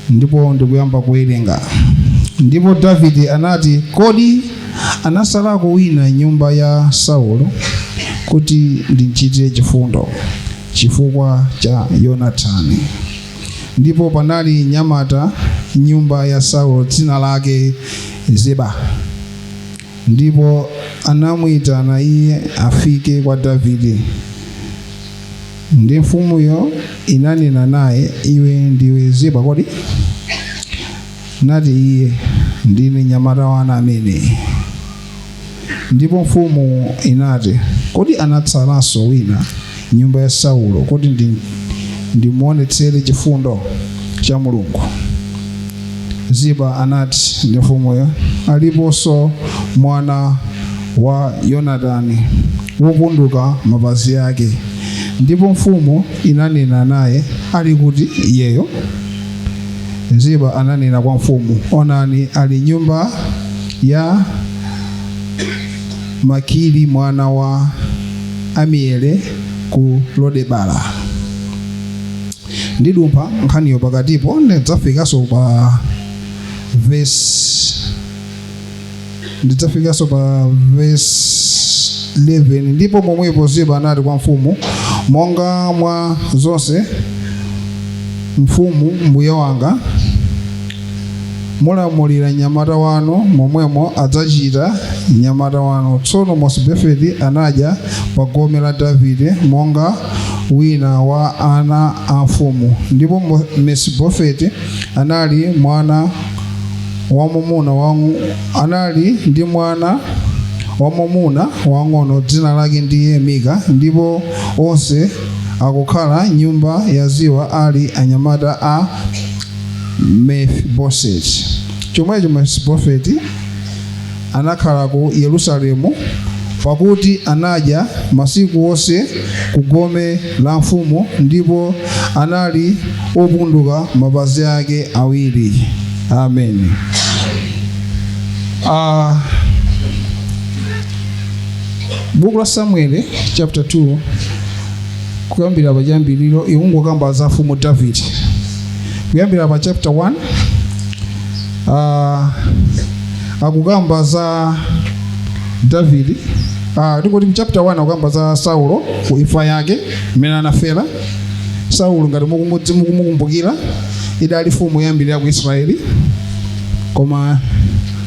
ndipo ndikuyamba kuwerenga ndipo davide anati kodi anasalako wina m'nyumba ya saulo kuti ndimchitire chifundo chifukwa cha yonatani ndipo panali mnyamata m'nyumba ya saulo dzina lake ziba ndipo anamuyitana iye afike kwa Davide. Ndi mfumuyo inanena naye, iwe ndiwe Ziba kodi? Nati iye, ndine mnyamata wanu amene. Ndipo mfumu inati, kodi anatsalanso wina? m'nyumba ya Saulo kuti ndimuonetsere chifundo cha Mulungu. Ziba anati ndi mfumuyo, aliponso mwana wa Yonatani wopunduka mapazi ake. Ndipo mfumu inanena naye, ali kuti iyeyo? Ziba ananena kwa mfumu, onani ali m'nyumba ya Makiri mwana wa Amiyele ku Lodebala. Ndidumpha nkhaniyo pakatipo ndidzafikanso pa verse 11 ndipo momwepo ziba anati kwa mfumu monga mwa zonse mfumu mbuye wanga mulamulira mnyamata wanu momwemo adzachita mnyamata wanu tsono mesibofeti anadya pa gome la davide monga wina wa ana a mfumu ndipo Mo- mesibofeti anali mwana wamumuna wangu anali ndi mwana wamumuna wang'ono dzina lake ndiye mika ndipo onse akukhala m'nyumba ya ziba ali anyamata a mefiboseti chomwecho mesibofeti anakhala ku yerusalemu pakuti anadya masiku onse ku gome la mfumu ndipo anali opunduka mapazi ake awiri amen uh, buku la samueli chapter 2 kuyambira pachiyambiriro ikungokamba za mfumu davide kuyambira pa chapter 1 uh, akukamba za davide uh, tingoti mchapter 1 akukamba za saulo ku imfa yake mmene anafera saulo ngati mukumudzi- mukumukumbukira idali mfumu yoyambirira ku israeli koma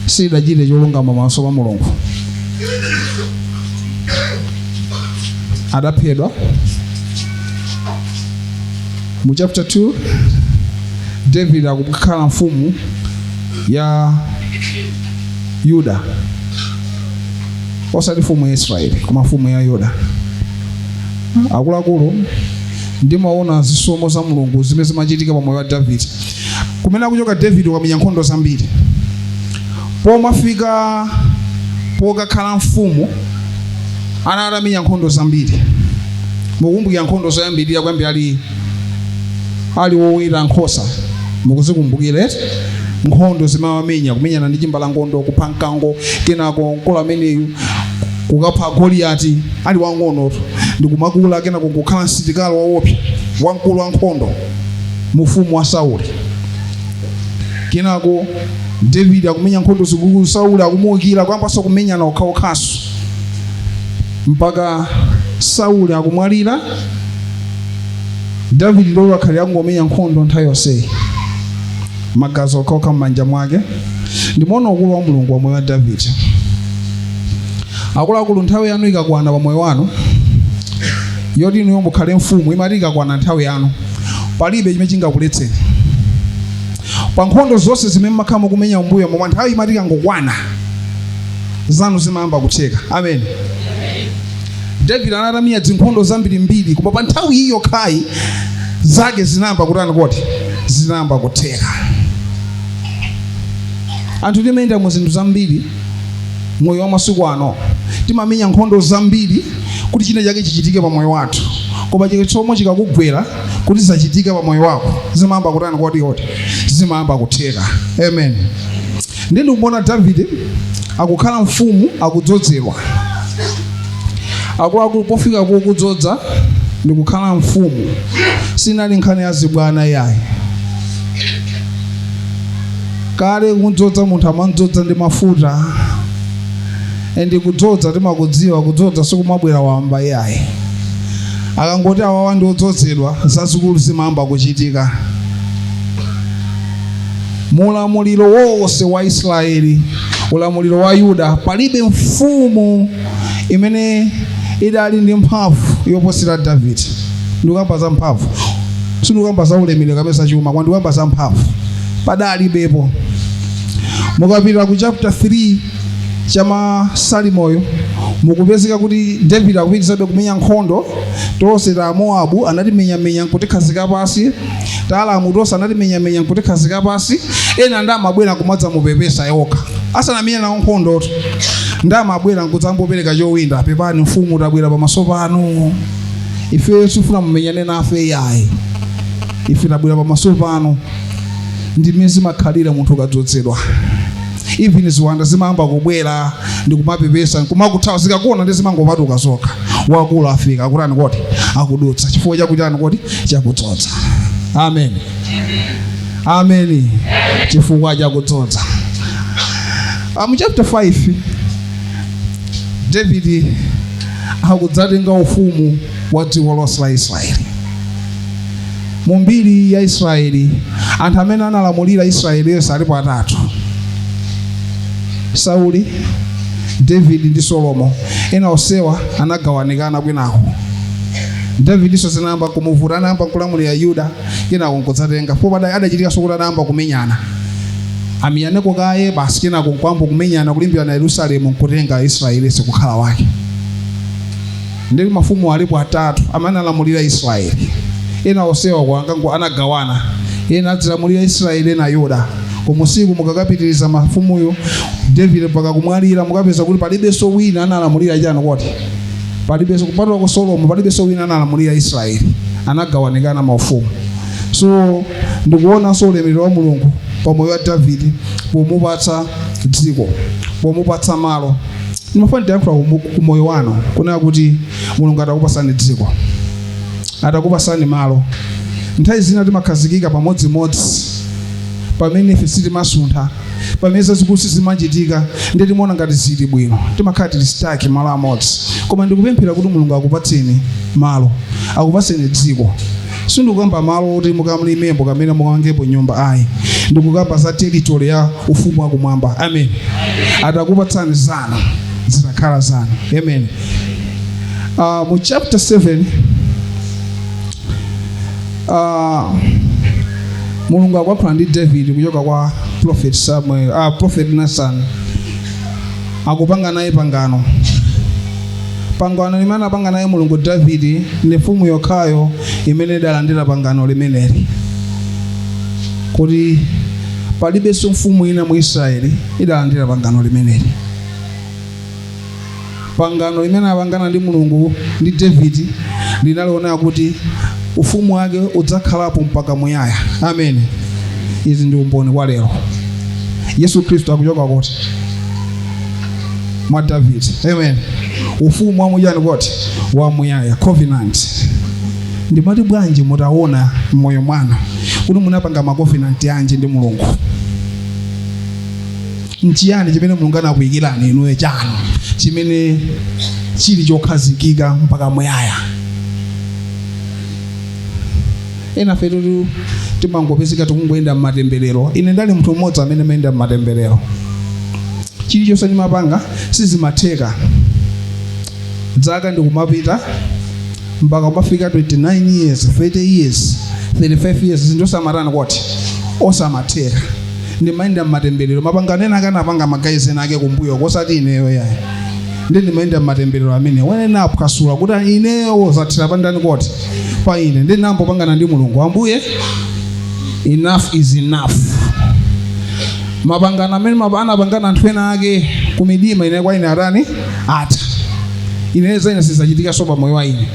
sidachite cholungama pamaso pa mulungu adaphedwa mu chapter 2 david akukhala mfumu ya yuda osati mfumu ya israeli koma mfumu ya yuda akuluakulu ndimaona zisomo za mulungu zimene zimachitika pa moyo wa davide kumene akuchoka david wamenya nkhondo zambiri pomafika pokakhala mfumu ana atamenya nkhondo zambiri mukukumbukira nkhondo zoyambirira kuyambira ali ali woweta nkhosa mukuzikumbukira eti nkhondo zimene wamenya kumenyana ndi chimbalangondo kupha mkango kenako mkulu ameneyu kukapha goliyati ali wang'onotu ndikumakula kenako kukhala msitikali waopsa wamkulu wa nkhondo mu ufumu wa Sauli kenako David akumenya nkhondo zikuluzikulu Sauli akumuukira akuyambaso kumenyana okhaokhaso mpaka Sauli akumwalira David ndi uyo akhala akungomenya nkhondo nthawi yonseyi magazi okhaokha m'manja mwake ndimaona ukulu wa mulungu pa moyo wa David akuluakulu nthawi yanu ikakwana pa moyo wanu yoti inuyo mukhale mfumu imati ikakwana nthawi yanu palibe chimene chingakuletseni pa nkhondo zonse zimene mmakhala mukumenya m'mbuyomo koma nthawi imati ikangokwana zanu zimayamba kutheka amen david anali atamenya zinkhondo zambirimbiri koma pa nthawi iyi yokhayi zake zinayamba kutani kodi zinayamba kutheka anthu timayenda mu zinthu zambiri moyo wa masiku ano timamenya nkhondo zambiri kuti china chake chichitike pa moyo wathu koma chisomo chikakugwera kuti zichitike pa moyo wako zimayamba kutani kodi kodi zimayamba kutheka amen ndi ndikuona davide akukhala mfumu akudzozedwa akuluakulu pofika pokudzoza ndikukhala mfumu sinali nkhani ya zibwana yayi kale kumdzoza munthu amamdzoza ndi mafuta endi kudzoza timakudziwa kudzoza sikumabwera wamba iyayi akangoti awawa ndi odzozedwa zazikulu zimayamba kuchitika mulamuliro wonse wa israeli ulamuliro wa yuda palibe mfumu imene idali ndi mphamvu yoposera davide ndikukamba za mphamvu sindikukamba za ulemerero kapena za chuma koma ndikukamba za mphamvu padalibepo mukapita ku chapter 3 cha masamueliyo mukupezeka kuti david akupitirizabe kumenya nkhondo tonse ta moabu anatimenyamenya nkutikhazika pasi taalamu tonse anatimenyamenya nkutikhazika pasi ena ndiye amabwera kumadzamupepesa yokha asanamenya nawo nkhondo ndiye amabwera nkudzamupereka chowinda pepani mfumu tabwera pamaso panu ife sitifuna mumenyane nafe yayi ife tabwera pamaso panu ndi mmene zimakhalira munthu ukadzodzedwa even ziwanda zimayamba kubwera ndikumapepesa nkumakuthawa zikakuona ndiye zimangopatuka zokha wakulu afika akutani kodi akudutsa chifukwa chakutani kodi chakudzodza amen amen chifukwa chakudzodza Ah, mu chapter 5 david akudzatenga ufumu wa dziko lonse la israeli mu mbiri ya israeli anthu amene analamulira israeli yonse alipo atatu sauli david ndi solomo ena onsewa anagawanikana kwinako davidinso zinayamba kumuvuta anayamba kulamulira yuda kenako nkudzatenga pompo zidachitikanso kuti anayamba kumenyana amenyaneko kaye basi kenako nkuyamba kumenyana kulimbirana yerusalemu nkutenga israeli yense kukhala wake ndi mafumu alipo atatu amene analamulira Israeli. Ena onsewa ankangogawana, ena adzilamulira Israeli ena Yuda. Kumusiko mukakapitiriza mafumuyo David mpaka kumwalira, mukapeza kuti palibenso wina analamulira chani kodi palibenso kupatula kwa Solomo, palibenso wina analamulira Israeli, anagawanikana maufumu. So ndikuonanso ulemerero wa Mulungu pa moyo wa Davide pomupatsa dziko, pomupatsa malo ndimafuna ndiyankhule ku moyo wanu kunena kuti mulungu atakupatsani dziko atakupatsani malo nthawi zina timakhazikika pamodzimodzi pamene ife sitimasuntha pamene zazikulu sizimachitika ndiye timaona ngati zili bwino timakhala tili stuck malo amodzi koma ndikupemphera kuti mulungu akupatseni malo akupatseni dziko sindikukamba malo oti mukalimepo kapena mukamangepo nyumba ayi ndikukamba za territory ya ufumu wa kumwamba amen atakupatsani zanu zitakhala zanu amen uh, mu chapter 7 uh, mulungu akuyankhula ndi david kuchoka kwa prophet samuel uh, prophet nathan akupanga naye pangano pangano limene apanga naye mulungu davidi ndi mfumu yokhayo imene idalandira pangano limeneli kuti palibenso mfumu ina mu israeli idalandira pangano limeneli pangano limene apangana ndi mulungu ndi davidi linali lonena kuti ufumu wake udzakhalapo mpaka muyaya ameni izi ndi umboni kwa lero Yesu Kristu akuchoka kudzera mwa David. Amen. Ufumu wa muchiyani koti wa muyaya covenant. Ndimati bwanji mutaona mmoyo mwanu kuti munapanga ma covenant yanji ndi Mulungu? Nchiyani chimene Mulungu anakuyikirani inuyo chanu chimene chili chokhazikika mpaka muyaya? ena fetu timangopezeka tikungoyenda mmatemberero ine ndali munthu mmodzi amene amayenda mmatemberero chilichonse ndimapanga sizimatheka dzaka ndikumapita mpaka kumafika 29 years 30 years 35 years zinthu osamatani koti osamatheka ndimayenda mmatemberero mapangano ena ake anapanga magayizi ena ake kumbuyo kosati ineyo yayi ndiye ndimayenda m'matemberero amene ine ndinaphwasula kuti ineyo zathera pandani koti pa ine ndiye ndinayamba kupangana ndi mulungu ambuye enough is enough mapangano amene mapa- anapangana anthu ena ake kumidima ine kwa ine atani koti atha ine zaine sizachitika so pamoyo wa ine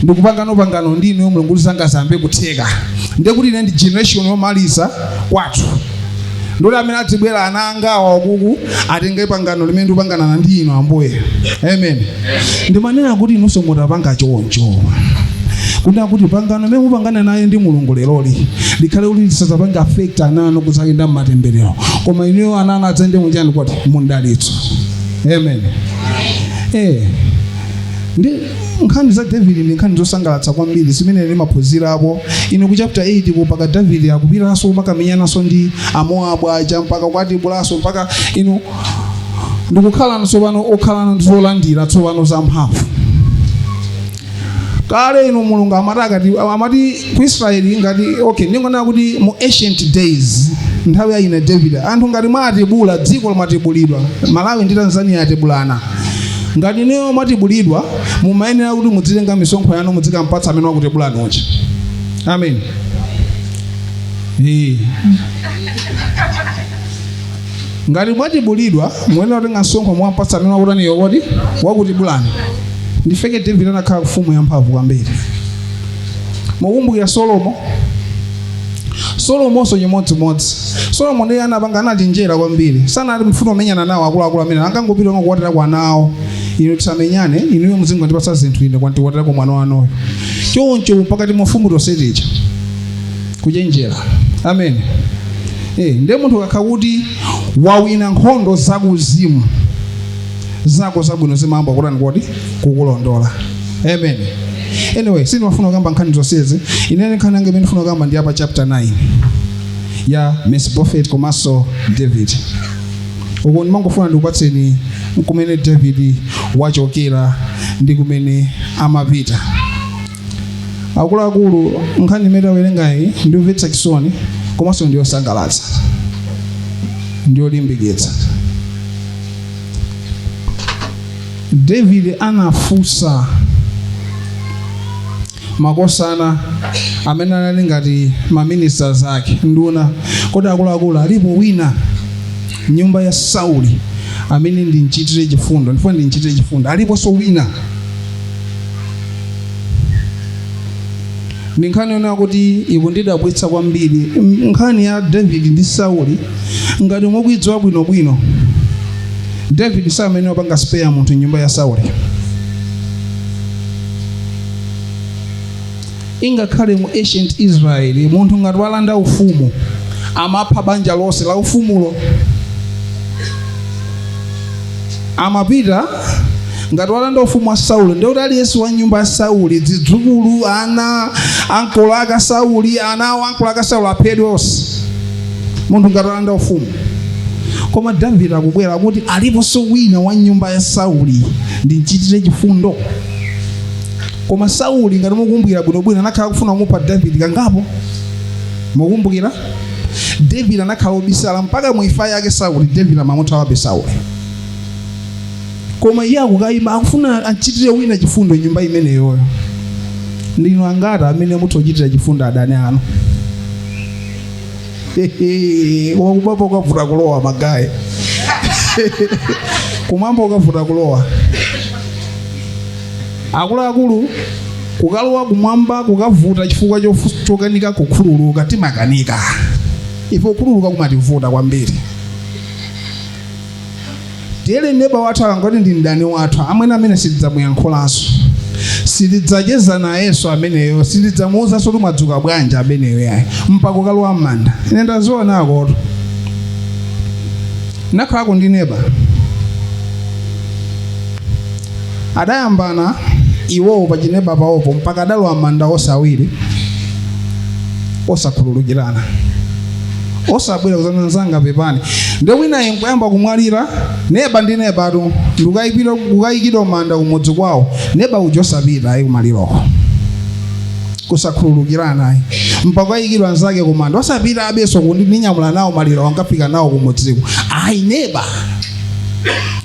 ndikupanga pangano ndi ineyo mulungu kuti zanga ziyambe kutheka ndiye kuti ine ndi generation yomaliza kwathu ndule amene adzibwera ana anga awa wakuku atenge pangano limene ndikupangana ndi inu ambuye amen ndimanena kuti inunso mutapanga choncho kunena kuti pangano limene mupangana naye ndi mulungu leroli likhale kuti lisadzapange affect ana anu kudzayenda mmatemberero koma inuyo ana anu adzayende munjani kuti mundalitso amen eh ndi nkhani za davide ndi nkhani zosangalatsa kwambiri zimene timaphunzirapo ine ku chapter 8 ko mpaka davide akupitanso kumakamenyananso ndi amoabu aja mpaka kuwatibulanso mpaka inu ndikukhalano tsopano kukhalano ndi zolandira tsopano za mphamvu kale ino mulungu amati akati amati ku Israeli ngati okay ndingonena kuti mu ancient days nthawi ya ana David anthu ngati mwatibula dziko lo mwatibulidwa Malawi ndi Tanzania atibulana ngati inuyo mwatibulidwa mumayenera kuti mudzitenga misonkho yanu mudzikampatsa amene wakutibulani uja amen ee ngati mwatibulidwa muyenera kutenga msonkho mwampatsa amene wakutani koti wakutibulani ndiye kuti David anakhala mfumu yamphamvu kwambiri mukumbukira solomo solomonso chimodzimodzi solomo ndiye anapanga anachenjera kwambiri sanati mufuna amenyane nawo akuluakulu amene angangopita onga kukwatira kwa nawo inu tisamenyane inuyo muzingondipatsa zinthu ine ndikwatira mwana wanuyo choncho pakati mafumu tonse tija kuchenjera amen eh ndiye munthu akakhala kuti wawina nkhondo zakuzimu zako zabwino zimayamba kutani kodi kukulondola amen anyway sindimafuna kukamba nkhani zonsezi inene nkhani yanga imene ndifuna kukamba ndi ya pa chapter 9 ya Mefiboseti komanso david uko ndimangofuna ndikupatseni kumene david wachokera ndi kumene amapita akuluakulu nkhani imene tawerengayi ndi yomvetsa chisoni komanso ndiyosangalatsa ndiyolimbikitsa David anafunsa makosana amene anali ngati ma ministers ake nduna kodi akuluakulu alipo wina m'nyumba ya Sauli amene ndimchitire chifundo ndifuna ndimchitire chifundo aliponso wina ndi nkhani yonena kuti ikundidabwitsa kwambiri M- nkhani ya david ndi sauli ngati mukuidziwa bwinobwino david samayenera kupanga spare munthu m'nyumba ya sauli ingakhale mu ancient israel munthu ngati walanda ufumu amapha banja lonse la ufumuwo amapita ngati walanda ufumu wa sauli ndiye kuti aliyense wa m'nyumba ya sauli zidzukulu ana ankolo ake a sauli ana awo ankolo ake a sauli aphedwe onse munthu ngati walanda ufumu koma david akubwera kuti aliponso wina wa nyumba ya sauli ndimchitire chifundo koma sauli ngati mukumbukira bwinobwino anakhala akufuna kumupha david kangapo mukumbukira David anakhala obisala mpaka mu imfa yake Sauli. David amamuthawabe Sauli, koma iye akuyima akufuna achitire wina chifundo m'nyumba imeneyoyo. Ndinu angati amene mutha kuchitira chifundo adani anu? kumwamba kukavuta kulowa magayi kumwamba kukavuta kulowa akuluakulu kukalowa kumwamba kukavuta chifukwa chokanika kukhululuka timakanika ife kukhululuka kumativuta kwambiri tiyerekeze neba wathu akangoti ndi mdani wathu amwene amene sindidzamuyankhulanso sindidzacheza nayenso ameneyo sindidzamuuzanso kuti mwadzuka bwanji ameneyo yayi mpaka kukalowa m'manda ine ndaziona akoto nakhalako ndi neba adayambana iwowo pachineba pawopo mpaka adalowa m'manda onse awiri osakhululukirana osabwera kuzanena nzanga pepani ndiye winayo nkuyamba kumwalira neba ndi nebatu ndikukayipira kukayikidwa m'manda kumudzi kwawo neba uja osapita ayi kumaliroko kusakhululukirana ayi mpaka ayikidwa nzake kumanda osapita apenso kuti ndinyamula nawo malirowo nkafika nawo kumudziko ayi neba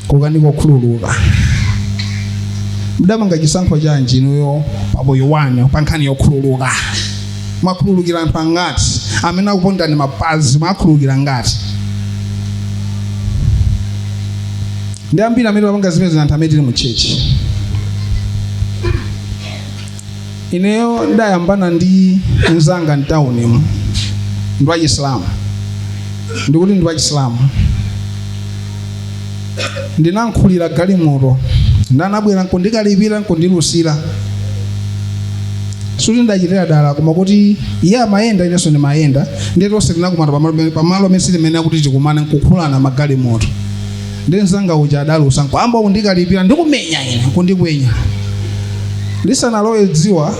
ku nkhani yokhululuka mdapanga chisankho chanji inuyo pamoyo wanu pa nkhani yokhululuka mwakhululukira anthu angati amene akupondani mapazi mwakhululukira angati ndi ambiri amene amapanga zimenezo anthu amene tili mu tchetchi ineyo ndidayambana ndi mzanga mtaunimu ndi wachisilamu ndikuti ndi wachisilamu ndinankhulira galimoto nde anabwera nkundikalipira nkundilusira sikuti ndachitira dala koma kuti iye amayenda inenso ndimayenda ndiye tonse tinakumana pamalo pamalo amene si limene lakuti tikumane nkukhulana magalimoto ndiye mzanga uja adalusa nkuyamba kundikalipira ndikumenya ine kundikwenya lisanalowe dzuwa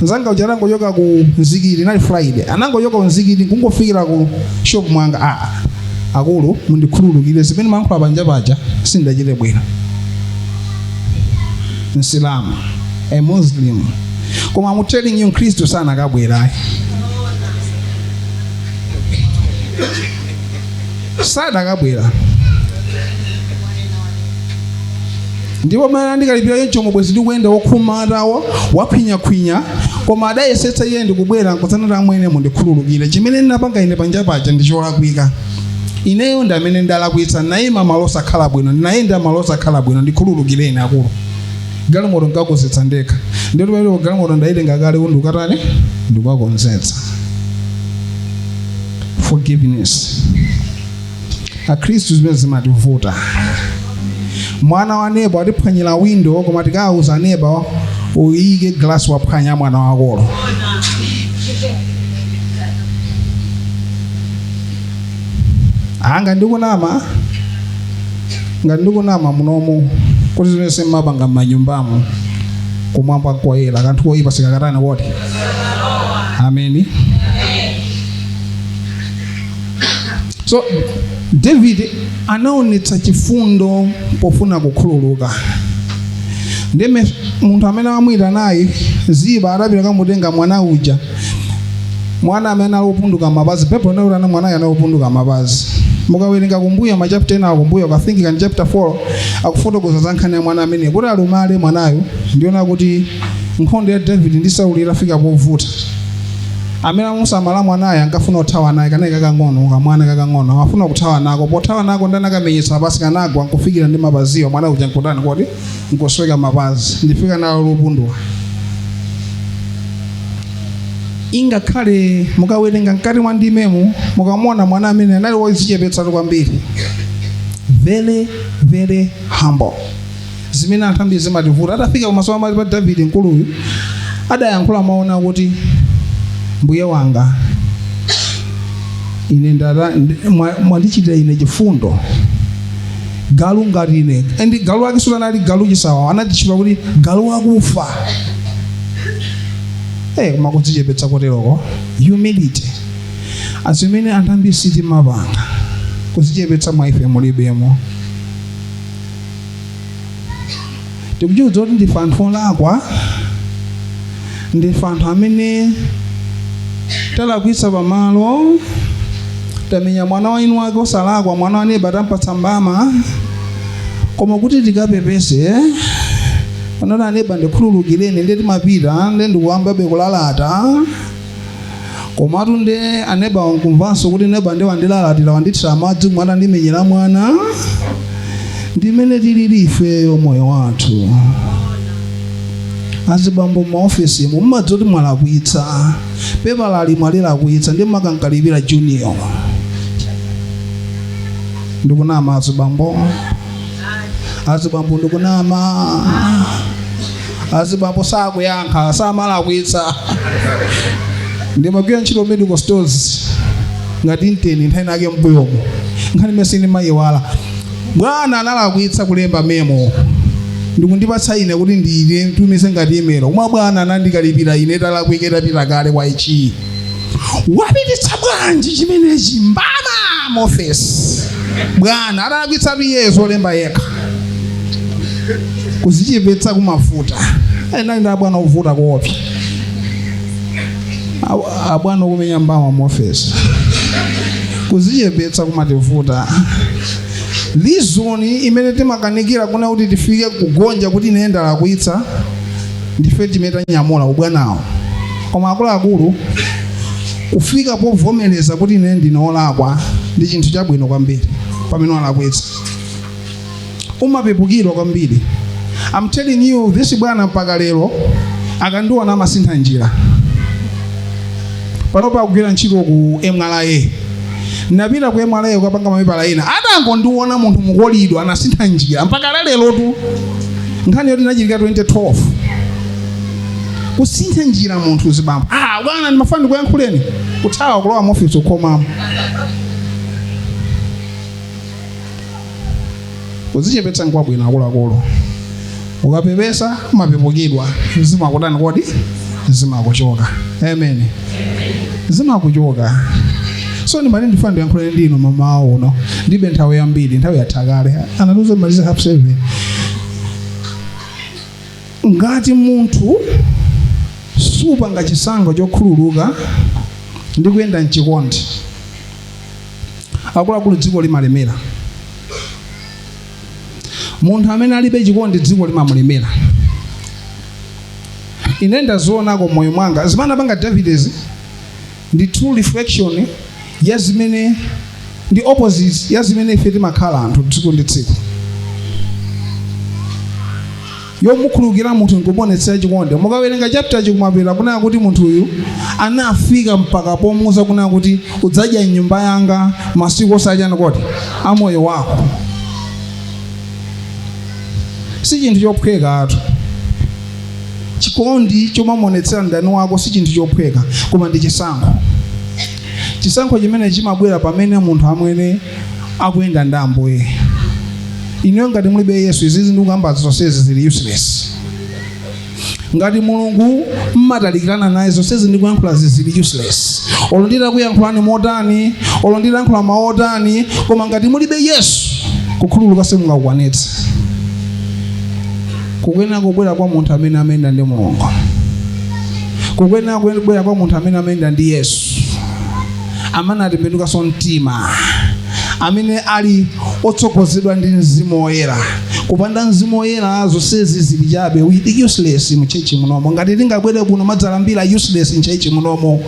mzanga uja anangochoka ku mzikiti linali friday anangochoka ku mzikiti kungofikira ku shop kwanga aa akulu mundikhululukire zimene ndimayankhula panja paja sindachite bwino msilamu a muslim koma I'm telling you mkhristu sanakabwera ayi sadakabwera ndipo mmene anandikalipira choncho bwenzi ndikuyenda wokhuma atawo wakhwinyakhwinya koma adayesetsa iye ndikubwera nkuzanena amwene mundikhululukire chimene ndinapanga ine panja paja ndi cholakwika ineyo ndi amene ndalakwitsa ndinayima malo osakhala bwino ndinayenda malo osakhala bwino ndikhululukireni akulu galimoto ndikakonzetsa ndekha ndiye pamene galimoto ndayitenga kale ndikukatani ndikukakonzetsa forgiveness akhristu zimenezi zimativuta mwana wa neba watiphwanyira windo koma tikawuza neba uyike glasi waphwanya mwana wakoyo ngati ndikunama ngati ndikunama munomu kuti zimenezi simmapanga m'manyumbamo kumwamba koyera kanthu koyipa sikakatani kodi amen so david anaonetsa chifundo pofuna kukhululuka ndiye munthu amene amuitana uja ziba adapita kamutenga mwana uja mwana amene ali opunduka mapazi popeza kuti ana mwanayo anali opunduka mapazi mukawerenga kumbuyo machapter ena akumbuyo I think ndi chapter 4 akufotokoza za nkhani ya mwana amene kuti alumale mwanayo ndi zonena kuti Nkhondo ya Davide ndi Sauli itafika povuta, amene amamusamala mwanayo ankafuna kuthawa naye kanali kakang'ono kamwana kakang'ono amafuna kuthawa nako pothawa nako nde anakamenyetsa pansi kanagwa nkufikira ndi mapaziwo mwana uja nkutani kodi nkosweka mapazi ndi chifukwa anali wopunduka ingakhale mukawerenga mkati mwa ndimemu mukamuona mwana amene anali wodzichepetsatu kwambiri very very humble zimene anthu ambiri zimativuta atafika pamaso pamaso pa davide mkuluyu adayankhula mawu onena kuti mbuye wanga ine ndata ndi- mwa- mwandichitira ine chifundo galu ngati ine ndi galu wake siuja anali galu chisawawa anadzitchula kuti galu wakufa Eh, koma kudzichepetsa koteroko humility nde zimene anthu ambiri sitimapanga kudzichepetsa mwa ife mulibemo tikuchidziwa kuti ndife anthu olakwa ndife anthu amene talakwitsa pamalo tamenya mwana wa eni ake osalakwa mwana wa neba tampatsa mbama koma kuti tikapepese ponena kuti aneba ndikhululukireni nde timapita nde kukayambabe kulalata komatu nde aneba wina nkumvanso kuti neba nde wandilalatira wandithira madzi mwandimenyera mwana ndimene tilili ifeyo moyo wathu azibambo m'maofesimu mumadziwa kuti mwalakwitsa pepala ili mwalilakwitsa nde mmakamkalipira junior ndikunama azibambo azibambo ndikunama azibambo sakuyankha samalakwitsa ndimagwira ntchito medical stores ngati inteni nthawi inayake mbuyomo nkhani imene sindimayiwala bwana analakwitsa kulemba memo ndikundipatsa ine kuti ndiitumize ngati email koma bwana anandikalipira ine italakwika itapita kale kwa HQ wapititsa bwanji chimenechi mbama mofesi bwana atalakwitsa iye wolemba yekha kuzichepetsa kumavuta enanu ndi abwana ovuta koopsa abwana okumenya mbama mofesi kuzichepetsa kumativuta lizoni imene timakanikira kunena kuti tifike kugonja kuti ine ndalakwitsa ndife timene tanyamula ubwanawo koma akuluakulu kufika povomereza kuti ine ndine olakwa ndi chinthu chabwino kwambiri pamene walakwa umapepukidwa kwambiri I'm telling you this bwana mpaka lero akandiona amasintha njira panopa akugwira ntchito ku mra ndinapita ku mra kukapanga mapepala ena atangondiona munthu mukolidwa anasintha njira mpaka lalerotu nkhani yoti inachitika 2012 kusintha njira munthu mzibambo ah bwana ndimafuna ndikuyankhuleni kuthawa kulowa mofisi nkukhomamo kudzichepetsa nkwabwino akuluakulu ukapepesa umapepukidwa zimakutani kodi zimakuchoka amen zimakuchoka so ndimati ndifuna ndiyankhuleni ndinu mamawa uno ndibe nthawi yambiri nthawi yathakale anatiuza timalize half seven ngati munthu supanga chisankho chokhululuka ndi kuyenda mchikondi akuluakulu dziko limalemera munthu amene alibe chikondi dziko limamulemera ine ndazionako moyo mwanga zimene anapanga davidezi ndi true reflection ya zimene ndi opposite ya zimene ife timakhala anthu tsiku ndi tsiku yomukhulukira munthu nkumonetsera chikondi mukawerenga chapter chikumapera kunena kuti munthu uyu anafika mpaka pomuuza kunena kuti udzadya mnyumba yanga masiku osachani kodi amoyo wako si chinthu chophweka atu chikondi chomamuonetsera mdani wako si chinthu chophweka koma ndi chisankho chisankho chimene chimabwera pamene munthu amene akuyenda ndi ambuye inuyo ngati mulibe yesu izizi ndikukamba zonsezi zili useless ngati mulungu mmatalikirana naye zonsezi ndikuyankhula zizili useless olo nditakuyankhulani motani olo nditayankhula mawu otani koma ngati mulibe yesu kukhululuka simungakukwanitse kukuyenera kubwera kwa munthu amene amayenda ndi mulungu kukuyenera kubwera kwa munthu amene amayenda ndi yesu amene anatembenukanso mtima amene ali otsogozedwa ndi mzimu woyera kupanda mzimu woyera zonsezi zili chabe we are useless mu church munomo ngati tingabwere kuno kumadzalambira useless mu church munomo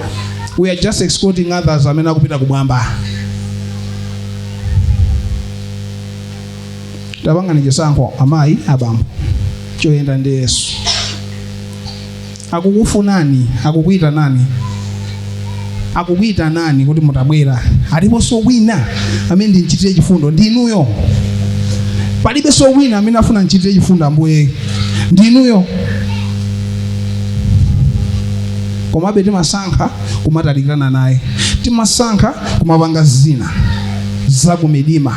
we are just escorting others amene akupita kumwamba tapangani chisankho amayi abambo choyenda ndi yesu akukufunani akukuyitanani akukuyitanani kuti mutabwera aliponso wina amene ndimuchitire chifundo ndi inuyo palibenso wina amene afuna amchitire chifundo ambuye ndi inuyo komabe timasankha kumatalikirana naye timasankha kumapanga zina zakumidima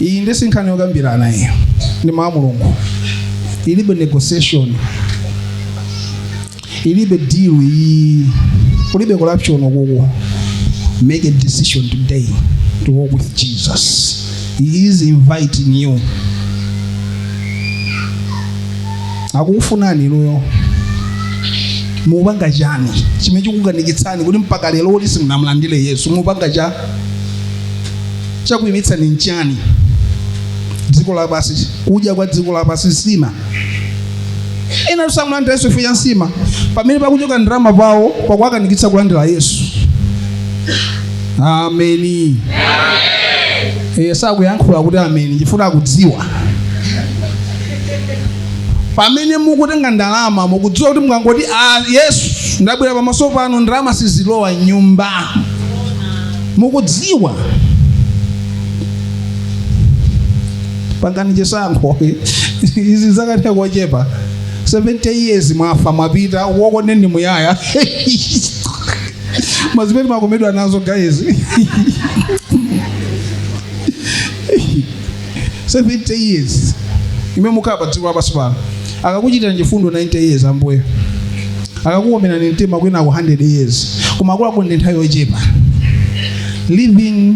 iyi nde si nkhani yokambirana iyi ndi mawu a mulungu ilibe negotiation ilibe deal iyi kulibe corruption kuku make a decision today to walk with jesus he is inviting you akukufunani inuyo mupanga chani chimene chikukanikitsani kuti mpaka lero kuti simunamulandire yesu mupanga cha chakuimitsani nchani dziko lapansi kudya kwa dziko lapansi nsima enatu samulandira yesu chifukwa cha nsima pamene pakuchoka ndalama pawo pakuwakanikitsa kulandira yesu ameni iye sakuyankhula kuti ameni chifukwa mukudziwa pamene mukutenga ndalama mukudziwa kuti mukangoti "Ah, yesu ndabwera pamaso pano ndalama sizilowa mnyumba mukudziwa pangani chisankho izi za kanthawi kochepa 70 years mwafa mwapita chionongeko chamuyaya pa zimene mukukomedwa nazo guys 70 years imene mukhala pa dziko lapansi pano akakuchitira chifundo 90 years ambuye akakukomera mtima kwinako 100 years koma akuluakulu ndi nthawi yochepa living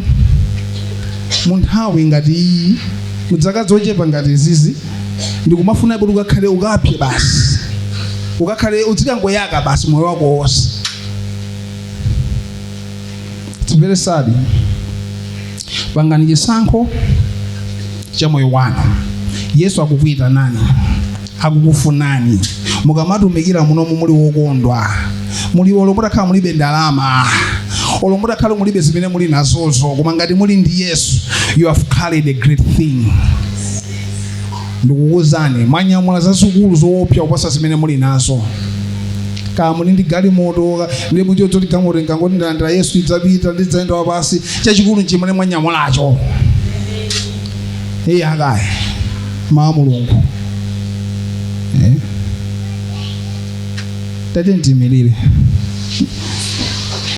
mu nthawi ngati iyi mu dzaka zochepa ngati izizi ndikumafuna kuti ukakhale ukapse basi ukakhale udzikangoyaka basi moyo wako wonse It's very sad, pangani chisankho cha moyo wanu. Yesu akukuitanani, akukufunani. Mukamatumikira munomu muli wokondwa, muli olo mutakhala mulibe ndalama, olo mutakhala mulibe zimene muli nazozo, koma ngati muli ndi Yesu, you have carried a great thing. ndikukuuzani mwanyamula zazikulu zoopsa kuposa zimene muli nazo kaya muli ndi galimoto ndiye mwati galimoto ndikangoti ndalandira yesu idzapita ndidzayenda wapansi chachikulu nchimene mwanyamulacho akhale mawu a mulungu Eh. tatiyeni tiimirire